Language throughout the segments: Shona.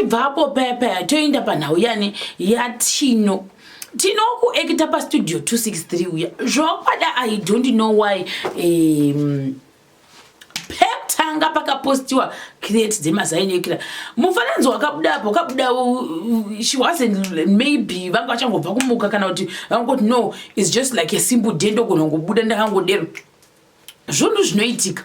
ibvapo paya paya toenda panhau yani yatino tino kuekita pastudio 263 uya zvokwada i don't know why um, pekutanga pakapostiwa create dzemazainekira mufananidzo wakabuda apo wakabuda she wasn't maybe vanga vachangobva kumuka kana kuti vangoti no is just like a simple day ndogona kungobuda ndakangodero zvunhu zvinoitika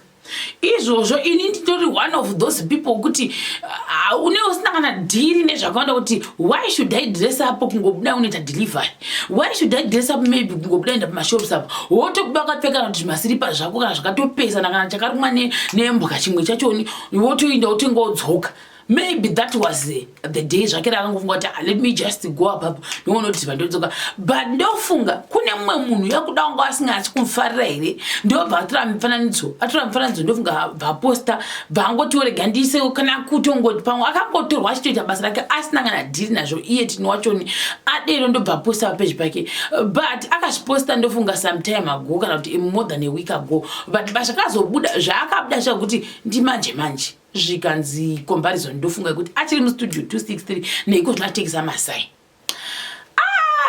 izvozvo ini nditori one of those people kuti ah, une usina kana dhiri nezvakaonda kuti why should i dress up kungobuda unoita delivery why should i dress up maybe kungobuda enda pamashops apo wotobuda wakapfeka kana kuti zvimasiripa zvako kana zvakatopesana kana chakarumwa nembwa chimwe chachoni wotoinda wotenga wodzoka maybe that was the, the day zvake rakangofunga kuti ah, let me just go apapo ndingoona kuti ziva ndodzoka but ndofunga kune mumwe munhu yakuda wanga asingasi kumufarira here ndobva atora mifananidzo atora mifananidzo ndofunga vaposta bvaangotiorega ndiise kana kutongoti pamwe akangotorwa achitoita basa rake asina kana dhiri nazvo iye tini wachoni adero ndobva aposta papeji pake but akazviposta ndofunga sometime ago kana kuti more than a week ago but basa kazobuda zvaakabuda zvakuti ndimanje manje zvikanzi comparison ndofunga kuti achiri mustudio 263 neiko zvinatengesa masai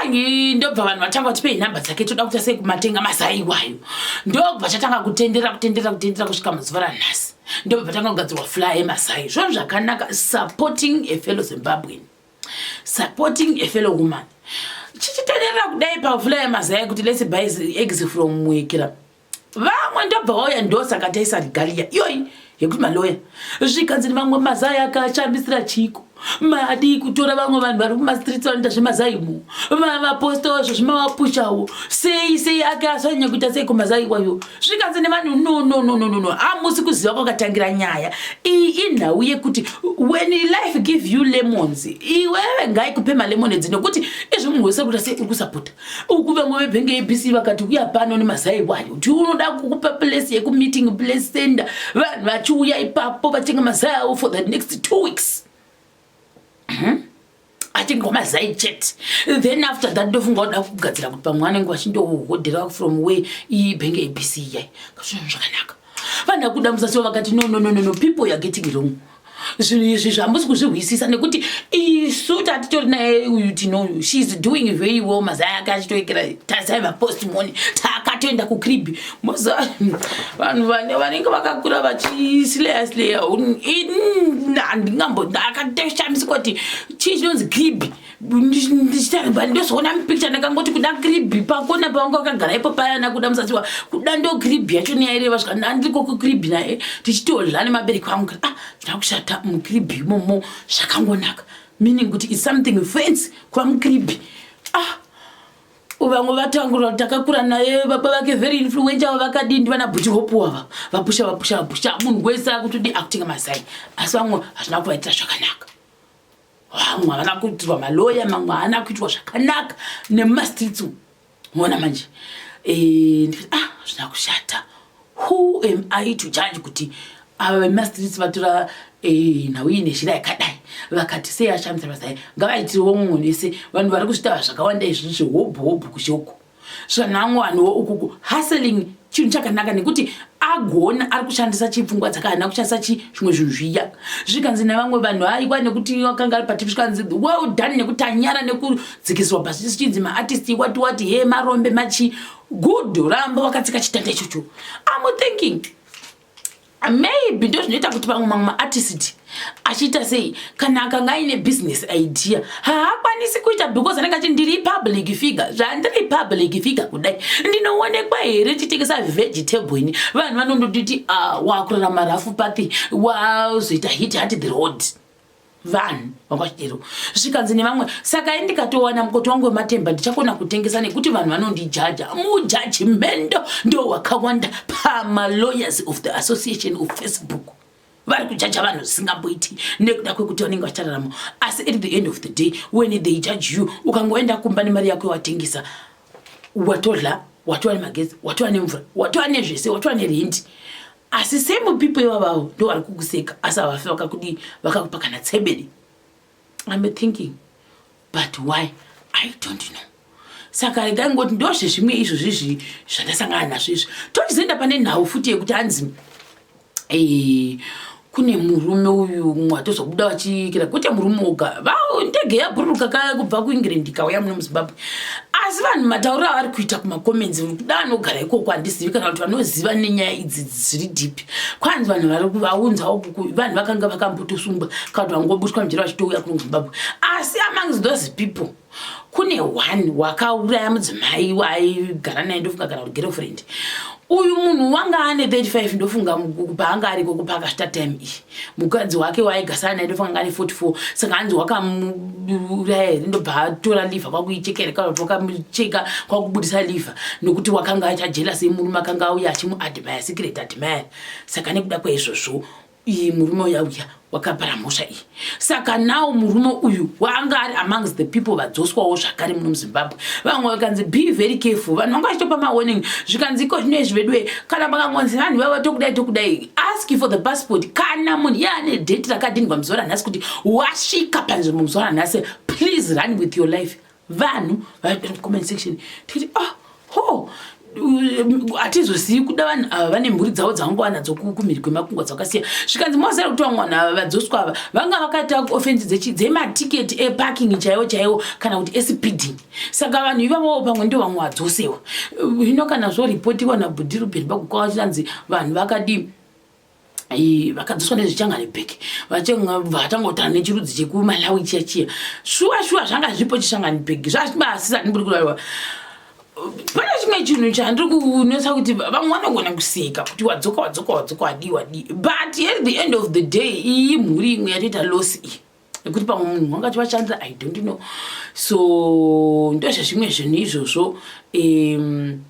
hangi ndobva vanhu vatanga kuti pei nhamba dzake toda kuita sei kumatenga mazai iwayo ndobva chatanga kutendera kutendera kutendera kusvika mazuva ranhasi ndobva vatanga kugadzirwa fly emazai zvonhu zvakanaka supporting a fellow zimbabwean supporting a fellow woman chichitenderera kudai pafly emazai kuti lets buy eggs from mwekira vamwe ndobva wauya ndosaka taisa regalia iyoyi yekuti maloya zvikanzi ni vamwe mazai akachambisira chiko madii kutora vamwe vanhu vari kumastreets vanoita zvemazaimu vavapostawo zvo zvimavapushawo sei sei ake asanyanya kuita sei kumazai iwayo zvikanzi nevanhu nononononono hamusi kuziva kwakatangira nyaya iyi inhau yekuti when life give you lemons iwewe ngaikupe malemon edzi nokuti izvi munhu wese kuita sei uri kusapota uku vamwe vebhengi abc vakati uya pano nemazai wayo kuti unoda kukupa place yekumeeting place center vanhu vachiuya ipapo vachenge mazai avo for the next two weeks hmm? achingwa mazai chet then after that ndofunga uda kugadzira kuti pamwe anenge vachindohodhera from way iyi bhengi abc iyai kazvinhu zvakanaka vanhu akuda musasiwa vakati no no no no no people youare getting wrong no. zvinhu izvi zvamusi kuzvihwisisa nekuti isu tatitori naye uyu tinoyu sheis doing very well mazai ake achitoekera tazai vapostmoni takatoenda kucrib vanhu vane vanenge vakakura vachisleya sleya handingambo akatoshamisika kuti chii chinonzi cribi ndichitamba ndozoona mupicture ndakangoti kuda kribhi pakona pavanga wakagara ipo paya nakuda musaziwa kuda ndo kribhi yacho neyaireva zvika ndandiko kukribhi naye tichitodla nemabereki vangu kri ah ndakushata mukribhi imomo zvakangonaka meaning kuti is something fence kuva mukribhi ah vamwe vatangura takakura naye baba vake very influenca avo vakadii ndivana bhuti hope wava vapusha vapusha vapusha munhu wese akutodi akutenga mazai asi vamwe hazvina kuvaitira zvakanaka vamwe havana kuitirwa maloya mamwe haana kuitwa zvakanaka nemumastreets umu mona manje eh, ndikati ah zvina kushata who am i to judge kuti ava vemumastreets vatora eh, nhau iyi nezhira yakadai vakati sei ashamisa vasai ngavaitiriwo mumwe vese vanhu vari kuzvitaura zvakawanda izvi zvehobho hobho kushoko zvanhangu hanhuwo ukuku hustling chinhu chakanaka nekuti agona ari kushandisa chipfungwa dzakahana kushandisa chi zvimwe zvinhu zviya zvikanzi nevamwe vanhu aiwa nekuti akanga ari patipi zvikanzi well done nekuti anyara nekudzikiswa pasi sichinzi maartist wati wati he marombe machi good ramba wakatsika chitanda ichocho am thinking maybe ndozvinoita kuti vamwe mamwe maartist achiita sei kana akanga aine business idea haakwanisi kuita because anenge achiti ndiri public figure zvandiri public figure kudai ndinoonekwa here chitengesa vegetable ini vanhu vanondotiti ah, wakurarama rafu pathi wazoita hit hati the road vanhu vanga vachidero zvikanzi nevamwe saka i ndikatowana mukoti wangu wematemba ndichakona kutengesa nekuti vanhu vanondijaja mujajimendo ndo wakawanda pamalawyers of the association of facebook vari kujaja vanhu zvisingamboiti nekuda kwekuti vanenge vachirarama asi at the end of the day when they judge you ukangoenda kumba nemari yako yawatengesa watodla watova nemagezi watova nemvura watova nezvese watova nerendi asi same people ivavavo ndo vari kukuseka asi havafe vakakudii vakakupa kana tsebede iam thinking but why i don't know saka regai ngoti ndozvezvimwe izvo zvizvi zvandasangana nazvo izvi tochizoenda pane nhau futi yekuti hanzi kune murume uyu mumwe atozobuda vachiikira kwete murume oga vao ndege yabhururuka kaya kubva kuengland ikauya muno muzimbabwe asi vanhu matauriro avari kuita kumacomments kuda anogara ikoko handizivi kana kuti vanoziva nenyaya idzi dziri dipi kwanzi vanhu vari vaunzawo kuku vanhu vakanga vakambotosungwa kana kuti vangobuswa mujera vachitouya kuno muzimbabwe asi among those people kune one wakauraya mudzimai waigara naye ndofunga kana kuti girlfriend uyu munhu wanga ane 35 ndofunga paanga ariko kupa akashita time iyi mukadzi wake waaigasana naye ndofunga anga ane 44 saka hanzi wakamuuraya here ndobva atora liver kwakuichekera kana kuti wakamucheka kwakubudisa liver nokuti wakanga achajelasi murume akanga auya achimuadmire secret admire saka nekuda kwaizvozvo iyi murume uya uya wakapara mhosva iyi saka nawo murume uyu waanga ari amongs the people vadzoswawo zvakare muno muzimbabwe vamwe vakanzi be very careful vanhu vanga vachitopa mawarning zvikanzi iko zvino izvi veduwe kana makangonzi vanhu vava tokudai tokudai ask for the passport kana munhu iye ane date rakadinigwa muzuva ranhasi kuti wasvika panzvimbo muzuva ranhasi please run with your life vanhu comment section tikuti oh ho hatizozivi kuda vanhu ava ah, vane mhuri dzavo dzavangwana dzokumhiri kwemakungwa dzakasiya zvikanzi mozera kuti vamwe vanhu ava vadzoswa ava vanga vakaita kuofensi dzematiketi eparking chaiwo chaiwo kana kuti espeeding saka vanhu ivavowo pamwe ndo vamwe vadzosewa hino kana zvoripotiwa nabhudirubheni pakukwava chinanzi vanhu vakadii vakadzoswa nezvichangani bek vatangotana nechirudzi chekumalawi chiya chiya shuwa shuwa zvanga zvipo chishangani bek zvazvibaasisa ndiburi kuraiwa pane chimwe chinhu chandiri kunetsa kuti vamwe vanogona kuseka kuti wadzoka wadzoka wadzoka wadii wadii but at the end of the day iyi mhuri imwe yatoita loss iyi nekuti pamwe munhu wanga chivachandira i don't know so ndozvezvimwe zvinhu izvozvo um,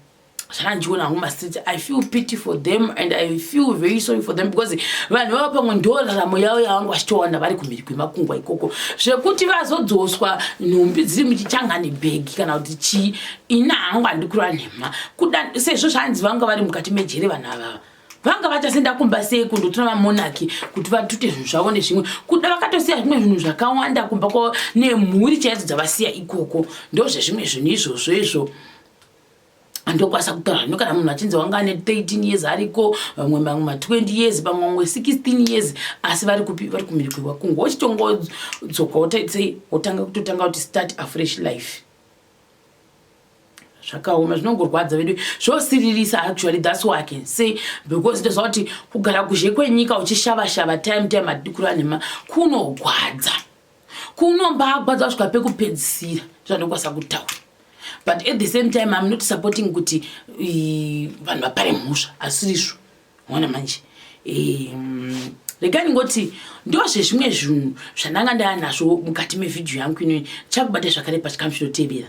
zvandiona hangu mastreet i feel pity for them and i feel very sorry for them because vanhu vava pamwe ndo raramo yavo yavanga vachitowana vari kumhiri kwemakungwa ikoko zvekuti vazodzoswa nhumbi dziri muchichangani bhegi kana kuti chii ini hangu handikurwa nhema kuda sezvo zvanzi vanga vari mukati mejere vanhu avava vanga vachasenda kumba sei kundotora mamonaki kuti vatute zvinhu zvavo nezvimwe kuda vakatosiya zvimwe zvinhu zvakawanda kumba kwavo nemhuri chaidzo dzavasiya ikoko ndozvezvimwe zvinhu izvozvo izvo ndokwanisa kutaura zvino kana munhu achinzi wanga ane 13 years ariko vamwe vamwe ma20 years vamwe vamwe 16 years asi vari kupi vari kumhiri kwevakungu wochitongodzoka wotaitsei wotanga kutotanga kuti start afresh life zvakaoma zvinongorwadza vedu zvosiririsa actually thats why i can say because ndoziva kuti kugara kuzhe kwenyika uchishava shava time time adikura nhema kunogwadza kuno mbagwa dzasvika pekupedzisira zvandokwanisa kutaura but at the same time im not supporting kuti vanhu vapare mhosva asirizvo ona manje rega ndingoti ndozvezvimwe zvinhu zvandanga ndaya nazvo mukati mevhidhiyo yangu inoyi chakubata zvakare pachikamu chinotevera